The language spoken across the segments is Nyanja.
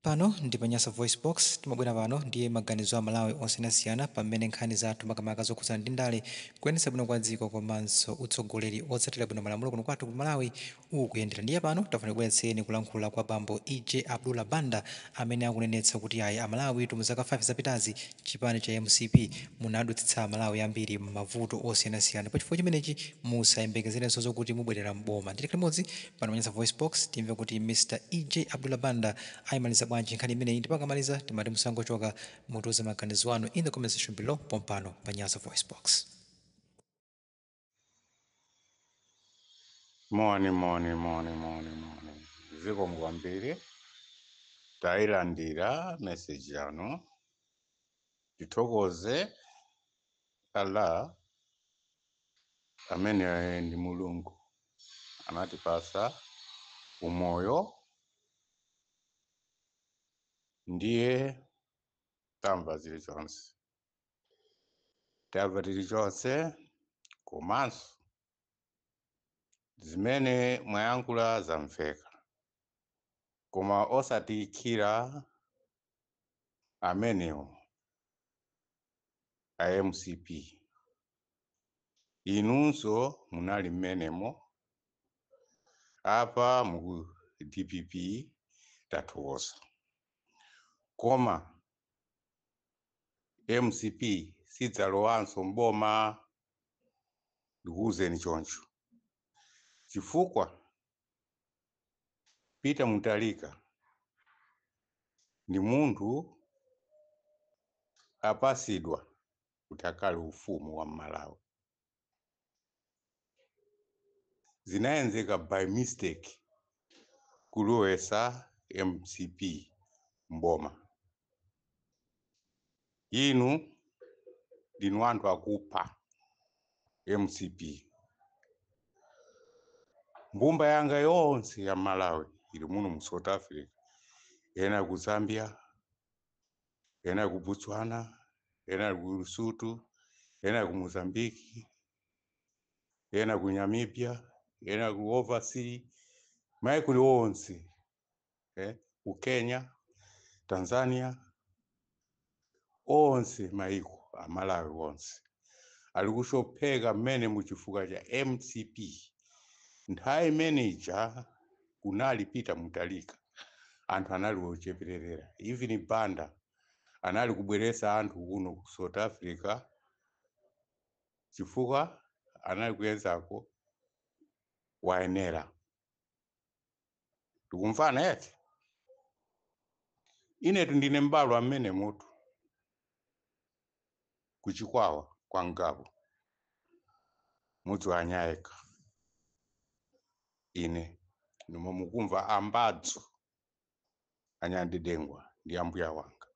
Pano ndi pa Nyasa VoiceBox, timabwera pano ndi maganizo a Amalawi osiyanasiyana pa mmene nkhani zathu makamaka zokhudzana ndi ndale, kuyendetsa bwino kwa dziko komanso utsogoleri otsatira bwino malamulo kuno kwathu ku Malawi ukuyendera. Ndiye pano tafuna tikubweretsereni kulankhula kwa bambo EJ Abdullah Banda amene akunenetsa kuti ayi Amalawitu mu zaka 5 zapitazi chipani cha mcp munadutsitsa Amalawi ambiri mmavuto osiyanasiyana. Pachifukwa chimenechi musayembekezerenso zokuti mubwerera m'boma. Ndiye tikhale limodzi Pano pa Nyasa VoiceBox, timve kuti Mr E.J. Abdullah Banda ayimaliza bwanji nkhani imeneyi ndipo akamaliza timati musangochoka, mutiuze maganizo anu in the comment section below pompano pa Nyasa VoiceBox. Moni, moni, moni, moni, moni. Zikomo kwambiri tailandira message yanu tithokoze Allah amene ndi Mulungu anatipatsa umoyo ndiye tamva zilichonse tamva chilichonse komanso zimene mwayankhula zamveka koma osatiikhira amenewo a mcp inunso munali mmenemo apa mu dpp tathokoza koma mcp sidzalowanso mboma ndikuwuzeni choncho chifukwa Peter Mutharika ndi munthu apasidwa kuti akhale ufumu wa Malawi. Zinayenzeka by mistake kulowesa mcp mboma. Inu ndinu anthu akupha mcp mbumba yanga yonse ya Malawi ili muno mu South Africa ena ku Zambia ena ku Botswana ena ku Lesotho ena ku Mozambique ena ku Namibia ena ku overseas maiko onse eh, ku kenya tanzania onse maiko amalawi onse ali kushopheka mmene muchifukwa cha mcp nthawi imene ija kunali peter mutharika anthu anali ochepererera even banda anali kubweresa anthu kuno ku south africa chifukwa anali kuyenzako wayenera tikumvana eti inetu ndine mbalo amene mutu ku Chikwawa kwa Ngabu mudzi wa anyayeka ine ndimo mukumva ambadzu aNyandidengwa ndi ambuya wanga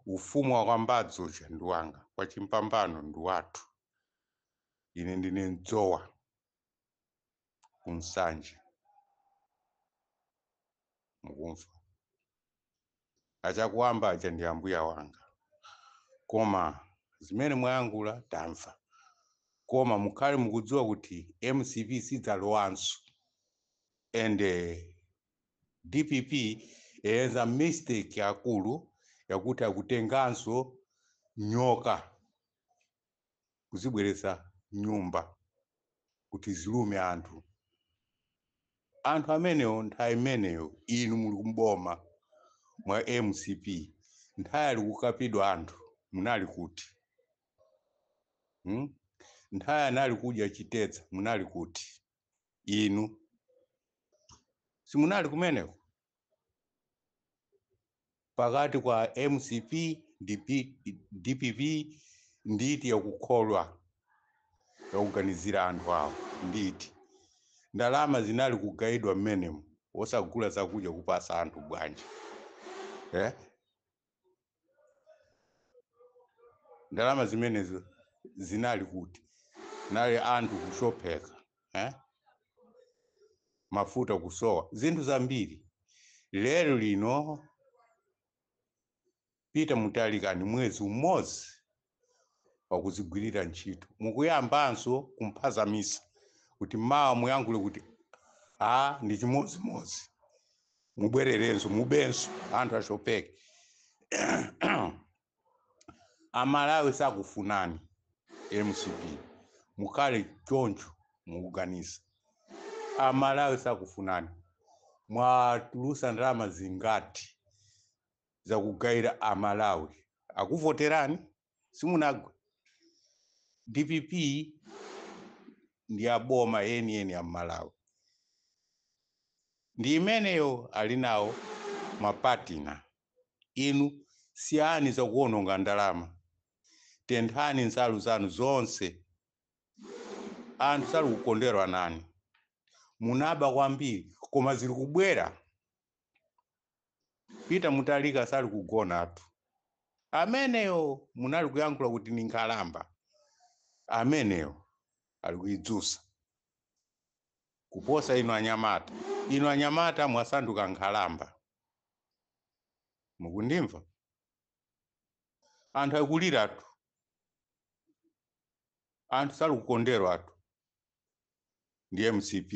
ufumu wa kwambadzu uja ndi wanga kwa Chimpambano ndi wathu ine ndine mdzowa ku Nsanje mukumva achakuwamba aja ndi ambuya wanga koma zimene mwayankhula tamva koma mukhale mukudziwa kuti mcp sidzalowanso and eh, dpp yenza mistake yaikulu yakuti akutenganso nyoka kuzibweretsa m'nyumba kuti zilume anthu. Anthu amenewo nthawi imeneyo inu muli m'boma mwa mcp nthawi ali kukapidwa anthu munali kuti? Hmm? Nthawi anali kudya chitedza munali kuti? Inu simunali kumeneko? pakati pa mcp ndi P- dpp ndi iti yakukholwa yakuganizira anthu awo ndi iti ndalama zinali kugayidwa mmenemo osagula zakudya kupasa anthu bwanji eh? ndalama zimenezo zinali kuti nali anthu kushupika eh? mafuta kusowa zinthu zambiri lero lino Peter Mutharika ndi mwezi umodzi wakuzigwirira ntchito mukuyambanso kumphazamisa kuti mawa muyankhule kuti a ndi chimodzimodzi mubwererenso mubenso anthu ashupike amalawi sakufunani mcp mukhale choncho mukuganiza amalawi sakufunani mwatulusa ndalama zingati zakugaira a Malawi akuvoterani simunagwe dpp ndi boma yeniyeni ya a Malawi ndi imeneyo ali nawo mapartner inu siyani zakuononga ndalama tenthani nsalu zanu zonse anthu sali kukondwera nanu munaba kwambiri koma zili kubwera Peter Mutharika sali kugonatu. Ameneyo munali kuyankhula kuti ni nkhalamba. Ameneyo ali kuidzusa. Kuposa inu anyamata. Inu anyamata mwasanduka nkhalamba. Mukundimva? Anthu ali kuliratu. Anthu sali kukonderwatu. ndi mcp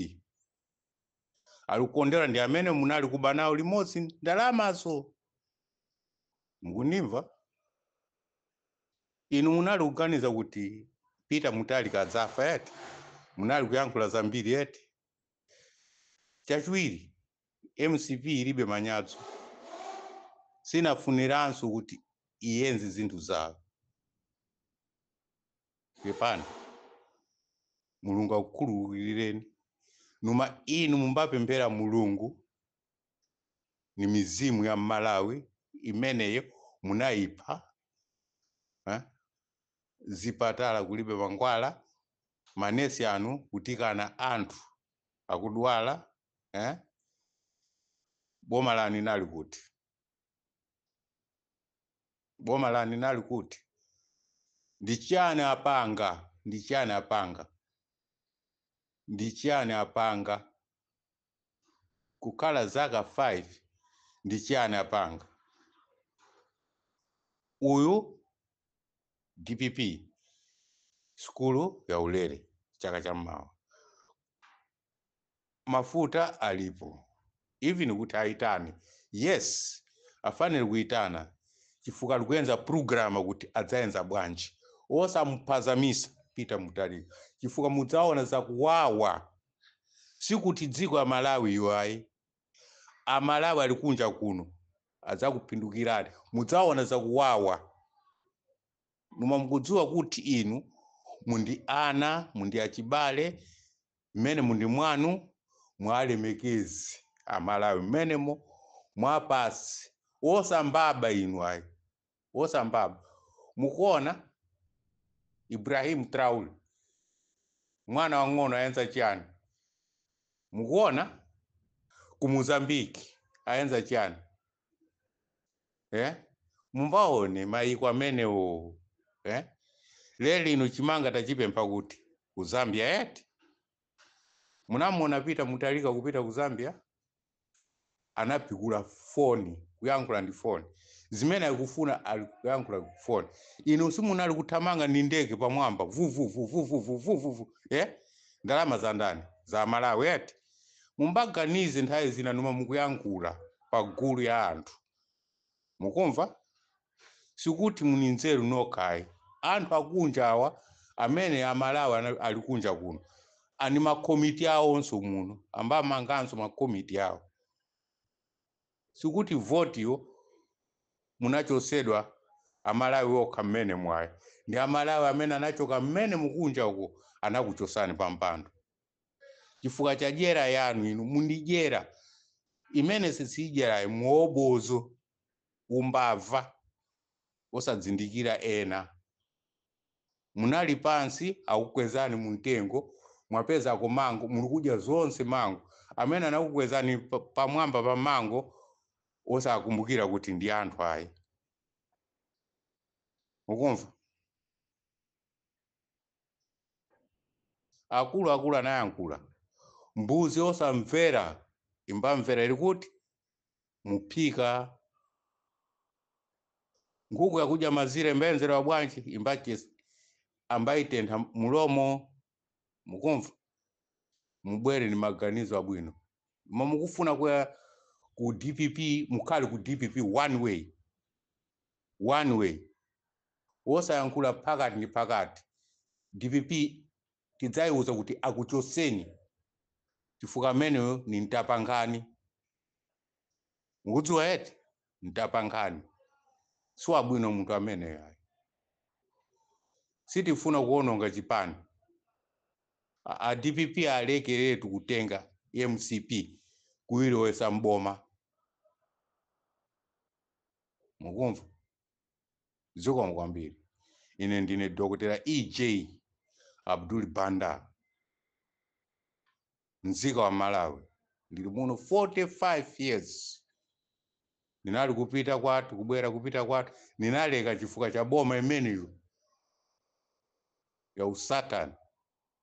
ali kukondera ndi amene munali kuba nawo limodzi ndalamazo mukundimva inu munali kuganiza kuti peter mutharika adzafa eti munali kuyankhula zambiri eti chachiwiri mcp ilibe manyadzo sinafuniranso kuti iyenze zinthu zawo pepani mulungu akukhululukireni numa inu mumbapemphera mulungu ni mizimu ya mmalawi imeneyo munayipha eh? zipatala kulibe mankhwala manesi anu kutikana anthu akudwala eh? boma lanu inali kuti boma lanu inali kuti ndi chani apanga ndi chani apanga ndi chani apanga kukhala zaka 5 ndi chani apanga uyu dpp sukulu ya ulere chaka cha mawa mafuta alipo even kuti aitane yes afanire kuitana chifukwa ali kuyenza programa kuti adzayenza bwanji osamuphazamisa peter mutharika chifukwa mudzaona zakuwawa sikuti dziko ya malawi iyo ayi amalawi ali kunja kuno adzakupindukirani mudzaona zakuwawa numa mukudziwa kuti inu mundi ana mundi achibale mmene mundi mwanu mwalemekezi amalawi mmenemo mwapasi osambaba inu ayi osambaba mukuona ibrahim traore mwana wang'ono ayenza chiyani mukuona ku mozambiki ayenza chiyani eh? mumbaone mayiko amenewo eh? lero lino chimanga tachipempha kuti ku zambia eti munamuona peter mutharika kupita ku zambia anapikula foni kuyankhula ndi foni zimene ali kufuna ali kuyankhula ku foni inu simunali kuthamanga ndi ndege pamwamba vuvuvuvuvuvuvuvu eh? ndalama za ndani za malawi eti mumbaganize nthawi zina noma mukuyankhula pa gulu ya anthu mukumva sikuti muni nzeru nokha ayi anthu akunja awa amene amalawi ali kunja kuno ani makomiti awonso muno ambamanganso makomiti awo sikuti votiyo munachosedwa ndi amalawi okha mmenemo ayi ndi amalawi amene anachoka mmenemu kunja uko anakuchosani pampando chifukwa cha dyera yanu inu muni dyera imene si dyera ayi mwa umbombo umbava osadzindikira ena munali pansi akukwezani mu mtengo mwapezako mango muli kudya zonse mango amene anakukwezani pa- pamwamba pa mango osakumbukira kuti ndi anthu ayi mukumva akulu akulu anayankula mbuzi yosamvera imbamvera ili kuti mumphika nkhuku yakudya mazira imbayenzedwa bwanji imbachesi ambayitentha mulomo mukumva mubwere ni maganizo abwino noma mukufuna kuya ku dpp mukhale ku dpp one way one way wosayankhula phakati ndi phakati dpp tidzaiuza kuti akuchoseni chifukwa ameneyo ni mtapankhani mukudziwa eti mtapankhani siwabwino munthu ameneyo ayi sitifuna kuononga chipani a dpp alekeretu kutenga mcp kuilowesa mboma mukumva zikomo kwambiri ine ndine dokotera ej abdul banda mzika wa malawi ndili muno 45 years ndinali kupita kwathu kubwera kupita kwathu ndinaleka chifukwa cha boma imeneyo ya usatani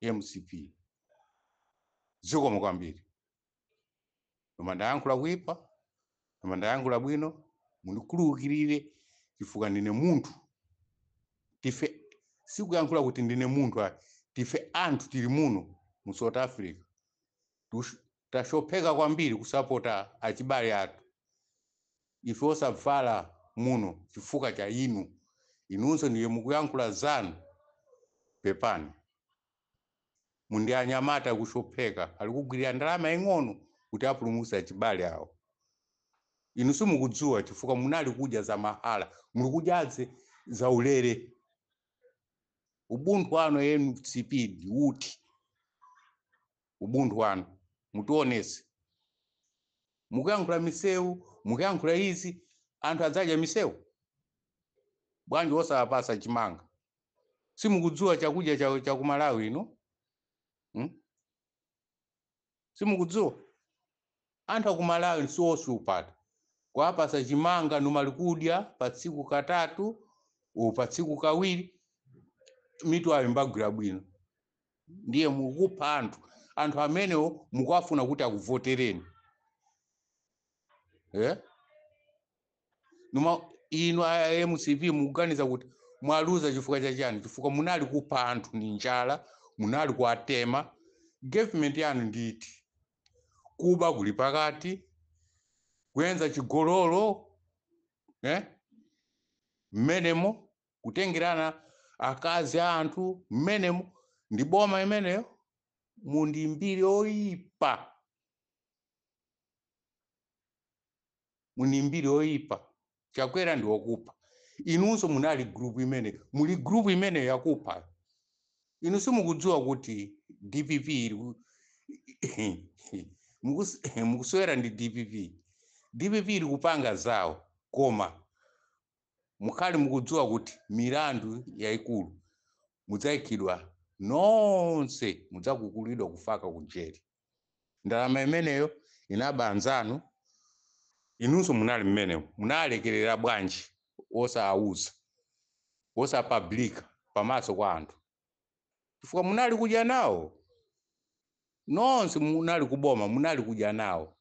mcp zikomo kwambiri noma ndayankhula kuipa noma ndayankhula bwino mundikhululukirire chifukwa ndine munthu tife sikuyankhula kuti ndine munthu ayi tife anthu tili muno mu south africa tashupheka kwambiri kusapota achibale athu ife osavala muno chifukwa cha inu inunso ndiye mukuyankhula zanu pepani muli anyamata kujubeki ali kugwirira ndalama ing'ono kuti apulumuse achibale awo inu simukudziwa chifukwa munali kudya za mahala muli kudya za ulere ubuntu wanu mcp ndi uti ubuntu wanu mutionese mukuyankhula misewu mukuyankhula izi anthu adzadya misewu bwanji osawapasa chimanga simukudziwa chakudya cha, cha ku malawi inu hmm? simukudziwa anthu aku malawi si ochita kuwapasa chimanga nomwe ali kudya pa tsiku katatu u pa tsiku kawiri mitu yawo imagwira bwino ndiye mukupha anthu anthu amenewo mukuwafuna kuti akuvotereni eh? koma inu a mcp mukuganiza kuti mwaluza chifukwa cha chani chifukwa munali kupha anthu ndi njala munali kuwatema government yanu ndithu kuba kuli pakati kuchita chigololo eh? mmenemo kutengerana akazi a anthu mmenemo ndi boma imeneyo muli ndi mbiri oyipa muli ndi mbiri yoyipa chakwera ndi okupha inunso munali group imeneyo muli group imeneyo yakupha inu simukudziwa kuti dpp ili ku- mukus- mukusewera ndi dpp dpp ili kupanga zawo koma mukhale mukudziwa kuti milandu yayikulu mudzaikidwa nonse mudzakukulidwa kufaka ku jere ndalama imeneyo inaba anzanu inunso munali mmenemo munalekerera bwanji osawuza osapublika pamaso kwa anthu chifukwa munali kudya nawo nonse munali kuboma munali kudya nawo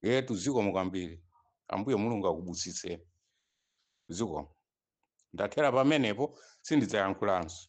etu zikomo kwambiri ambuye mulungu akubusitseni zikomo ndathera pamenepo sindidzayankhulanso